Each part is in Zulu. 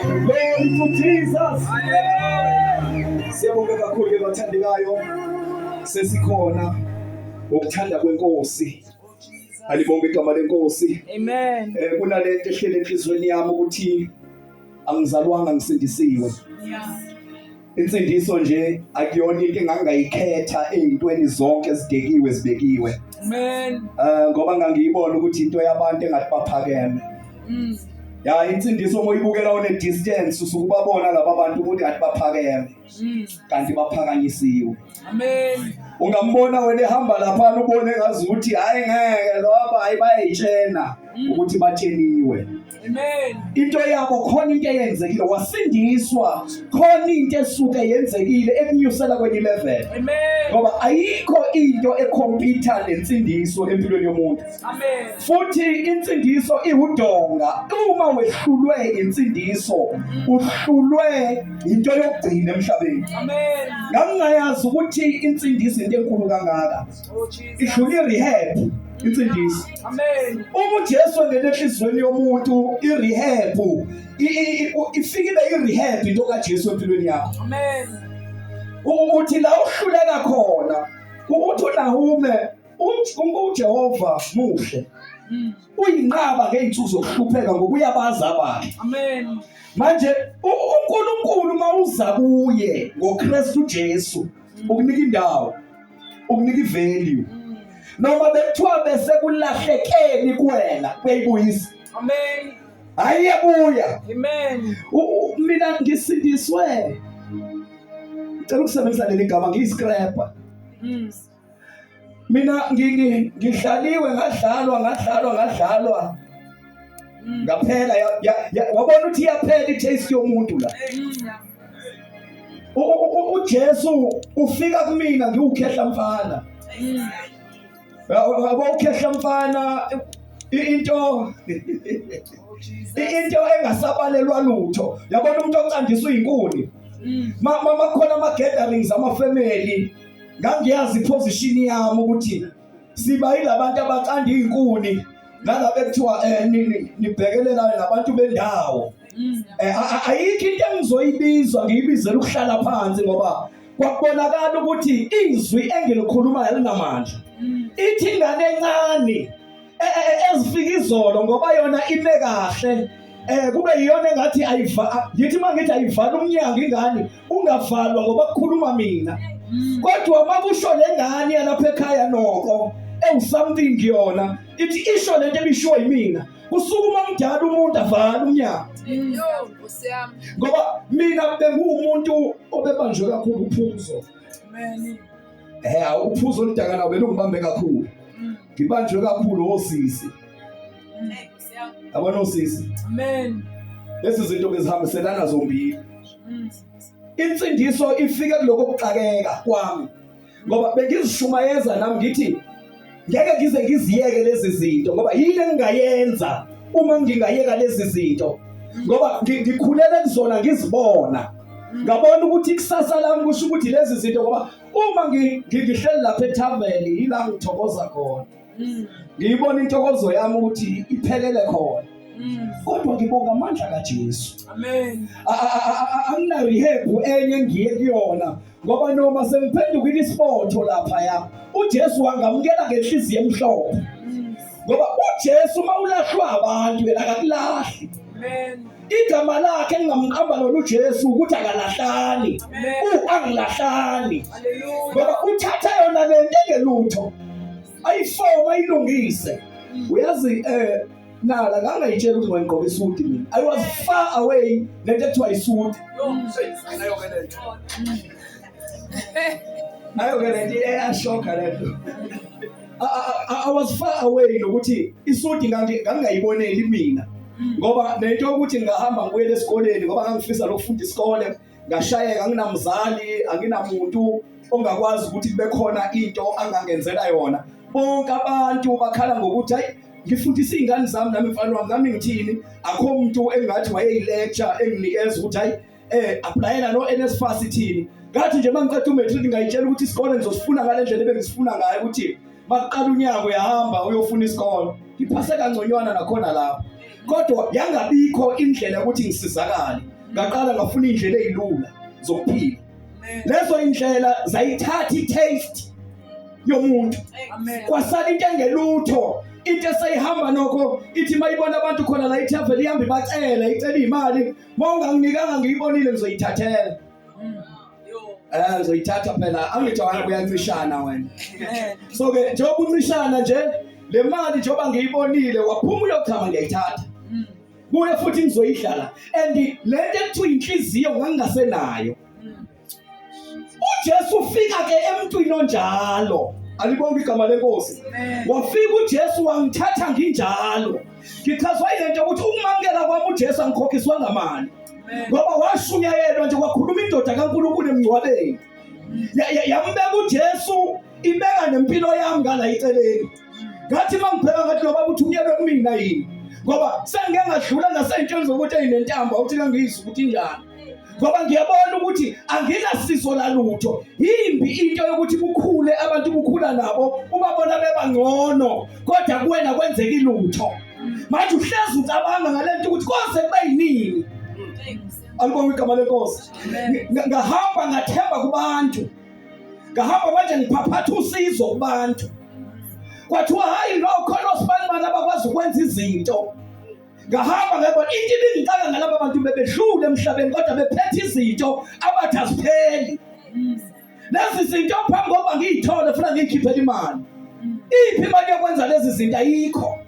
Glory to Jesus. Siyabonga kakhulu ke bathandekayo. Sesikhona ukuthanda kwenkosi. Alibonge igama lenkosi. Amen. Eh kunalento ehlele enhlizweni yami ukuthi angizalwanga ngisindisiwe. Yeah. Insindiso nje akuyona into engangayikhetha ezintweni zonke ezidekiwe zibekiwe. Amen. Eh ngoba ngangiyibona ukuthi into yabantu engathi baphakeme. Mm. Ya insindiso moyibukela one distance usukubabona laba bantu ukuthi ngathi baphakeme. Mm. Kanti baphakanyisiwe. Amen. Ungambona wena ehamba lapha ubone ngazi ukuthi hayi ngeke loba hayi bayitshena mm. ukuthi batsheniwe. into yabo khona into eyenzekile wasindiswa khona into esuke yenzekile ekunyusela kwenye level ngoba ayikho into ekhompyutha nensindiso empilweni yomuntu futhi insindiso iwudonga uma wehlulwe insindiso uhlulwe into yokugcina emhlabeni ngangingayazi ukuthi insindiso into enkulu kangaka Oh, idlule irehab insindiso uma ujesu engena enhliziyweni yomuntu irehab ifike ibe irehab into kajesu empilweni yakho ukuthi la uhluleka khona ukuthi unahume ujehova muhle mm. uyinqaba ngey'nsuku zokuhlupheka ngokuyabazi abantu manje unkulunkulu uma uza kuye ngokristu jesu mm. ukunika indawo ukunika ivalue noma bekuthiwa bese kulahlekeni kuwena kuyibuyisa amen hayi yabuya amen mina ngisindiswe ngicela ukusebenzisa leli gama ngiyiscraper mm. mina ngihlaliwe ngadlalwa ngadlalwa ngadlalwa mm. ngaphela wabona ukuthi iyaphela i-taste yomuntu la uJesu ufika kumina ngiwukhehla mfana yabo ukhehla mfana into into engasabalelwa lutho yabona umuntu ocandiswa inkuni makhona ama gatherings ama family ngangiyazi iposition yami ukuthi siba yilabantu abacanda izinkuni nalabo ekuthiwa eh nibhekelelane nabantu bendawo eh, ayikho into engizoyibizwa ngiyibizela ukuhlala phansi ngoba kwakubonakala ukuthi izwi engilikhulumayo linamandla ithi ingane encane e, e, e, ezifika izolo ngoba yona ime kahle eh kube iyona engathi ayiva ngithi mangithi ayivala umnyango ingane ungavalwa ngoba kukhuluma mina mm. kodwa makusho lengane yalapha ekhaya noko ewu something yona ithi isho lento ebishiwo yimina kusukuma mdala umuntu avala umnyango ngoba mina benguwumuntu obebanjwe kakhulu uphuzo eh uphuzo oludakana ubelungibambe kakhulu mm. ngibanjwe kakhulu osisi mm. yabona usisi amen lezi zinto ke zihambiselana zombili mm. insindiso ifike kuloko kuxakeka kwami ngoba bengizishumayeza nami ngithi ngeke ngize ngiziyeke lezi zinto ngoba yini engingayenza uma ngingayeka lezi zinto ngoba ngikhulele kuzona ngizibona ngabona ukuthi ikusasa lami kusho ukuthi lezi zinto ngoba uma ngihleli lapha ethaveni yila ngithokoza khona mm. ngiyibona intokozo yami ukuthi iphelele khona mm. kodwa ngibonga amandla kaJesu amen angina rehab enye ngiye kuyona ngoba noma sengiphendukile isibotho lapha ya uJesu wangamukela ngenhliziyo emhlophe mm. ngoba uJesu mawulahlwa abantu yena akakulahli amen igama lakhe engingamqamba lona uJesu ukuthi akalahlani u angilahlani ngoba uthatha yona le nto engelutho ayifoma ilungise uyazi eh nala ngangayitshela ukuthi ngayigqoka isudi mina i was far away nento ekuthiwa isudi Ayo ke lento iyashokha lento. I, I, I was far away nokuthi isudi ngangi- ngangingayiboneli mina ngoba nento yokuthi ngingahamba ngibuyele esikoleni ngoba ngangifisa lokufunda isikole ngashayeka anginamzali anginamuntu ongakwazi ukuthi kube khona into angangenzela yona bonke abantu bakhala ngokuthi hayi ngifundisa iy'ngane zami nami mfana wami nami ngithini akho muntu engathi wayeyilecture enginikeza ukuthi hayi eh applyela no NSFAS ithini ngathi nje mangiqeda umatric ngayitshela ukuthi isikole ngizosifuna ngalendlela ebengizifuna ngayo ukuthi maqala unyaka uyahamba uyofuna isikole ngiphase kangconywana nakhona lapho kodwa yangabikho indlela ukuthi ngisizakale ngaqala ngafuna indlela ezilula zokuphila lezo indlela zayithatha i-taste yomuntu kwasala into engelutho into eseyihamba nokho ithi mayibona abantu khona la ithaveli ihambe ibacela icela imali Mawunganginikanga ngiyibonile ngizoyithathela. Eh ngizoyithatha phela angijwayele kuyancishana wena. So ke njengoba uncishana nje le mali njengoba ngiyibonile waphuma uyochama ngiyayithatha. Mm. Kuye futhi ngizoyidlala and lento ekuthiwa inhliziyo ngangingasenayo. uJesu ufika ke emntwini onjalo alibonge igama lenkosi wafika uJesu wangithatha nginjalo ngichazwa ilento ukuthi ukumamukela kwami uJesu angikhokhiswa ngamali ngoba washunyayelwa nje kwakhuluma indoda kaNkulunkulu emngcwabeni yambeka uJesu ibeka nempilo yami ngala iceleni ngathi uma ngibheka ngathi lo baba uthunyelwe kumina yini ngoba sengike ngadlula nasey'ntweni zokuthi eyinentamba ukuthi kangiyizwa ukuthi injani ngoba ngiyabona ukuthi anginasizo lalutho yimbi into yokuthi kukhule abantu kukhula nabo ubabona bebangcono kodwa kuwena kwenzeki lutho manje uhlezi ucabanga ngale nto ukuthi koze kube yinini alibonga igama lenkosi ngahamba ngathemba kubantu ngahamba manje ngiphaphatha usizo kubantu kwathiwa hhayi lo khona osibanibani abakwazi ukwenza izinto ngahamba ngayibona into ibingicaka ngalaba bantu bebedlule emhlabeni kodwa bephethe izinto abathi azipheli lezi zinto phambi kokuba ngiyithole funa ngiyikhiphele imali iphi imali yokwenza lezi zinto ayikho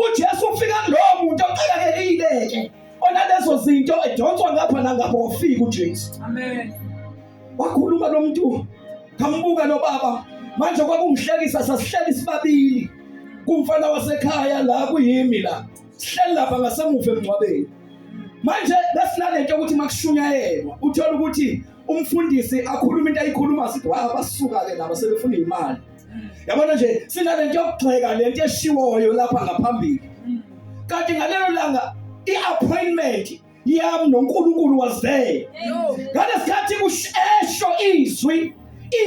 ujesu ufika kulowo muntu oxakakelile-ke onalezo zinto edonswa ngapha nangapha wafika ujesu amen wakhuluma lo muntu ngambuka lo baba manje kwakumhlekisa sasihleli sibabili kumfana wasekhaya la kuyimi la sihleli lapha ngasemuva emngcwabeni manje besinalento ukuthi makushunyayelwa uthola ukuthi umfundisi akhuluma into ayikhuluma sithi wa basuka ke laba sebefuna imali yabona nje sinalento yokugxeka lento eshiwoyo lapha ngaphambili kanti ngalelo langa i-appointment yami noNkulunkulu was there ngalesikhathi kushesho izwi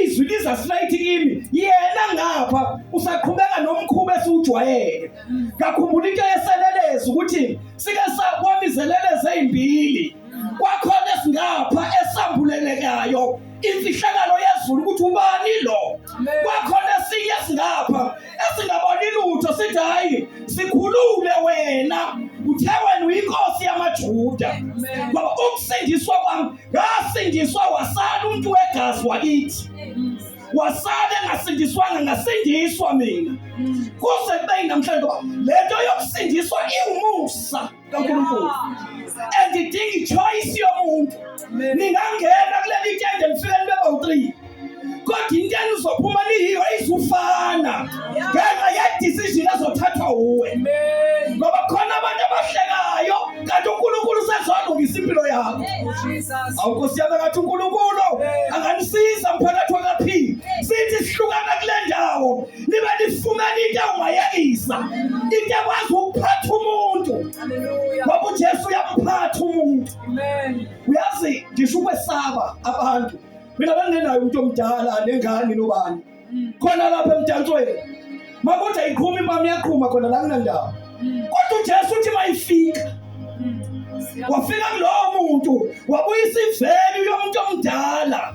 izwi liza straight kimi yena ngapha usaqhubeka nomkhuba esiwujwayele ngakhumbula into yeselelezi ukuthi sike sakwamizeleleze ezimbili kwakhona esingapha esambulelekayo imfihlakalo yezulu ukuthi ubani lo kwakhona esinye singapha esingaboni lutho sithi hayi sikhulule wena uthe wena uyinkosi yamajuda ngoba ukusindiswa kwami ngasindiswa wasala umuntu wegazi wakithi wasala engasindiswanga ngasindiswa mina kuze kube namhlanje ngoba le nto yokusindiswa iwumusa kaNkulunkulu andidingi ichoice yomuntu ningangena kuleli tende lifike libe bawu-three kodwa into enizophuma niyiyo izufana ngenxa yedecision ezothathwa wuwe ngoba khona abantu abahlekayo kanti unkulunkulu usezolungisa impilo yakho awunkosi yami kathi unkulunkulu anganisiza mphakathi wakaphini sithi sihlukana kule ndawo nibe nifumana into ewayekisa into ekwazi ukuphatha umuntu ngoba ujesu uyamphatha umuntu uyazi ngisho ukwesaba abantu mina bengingenayo umuntu omdala nengane nobani mm. khona lapha emdansweni makuthi ayiqhumi impama iyaqhuma khona la kunandawo mm. kodwa ujesu uthi mayifika wafika kulowo muntu wabuyisa ivelu yomuntu omdala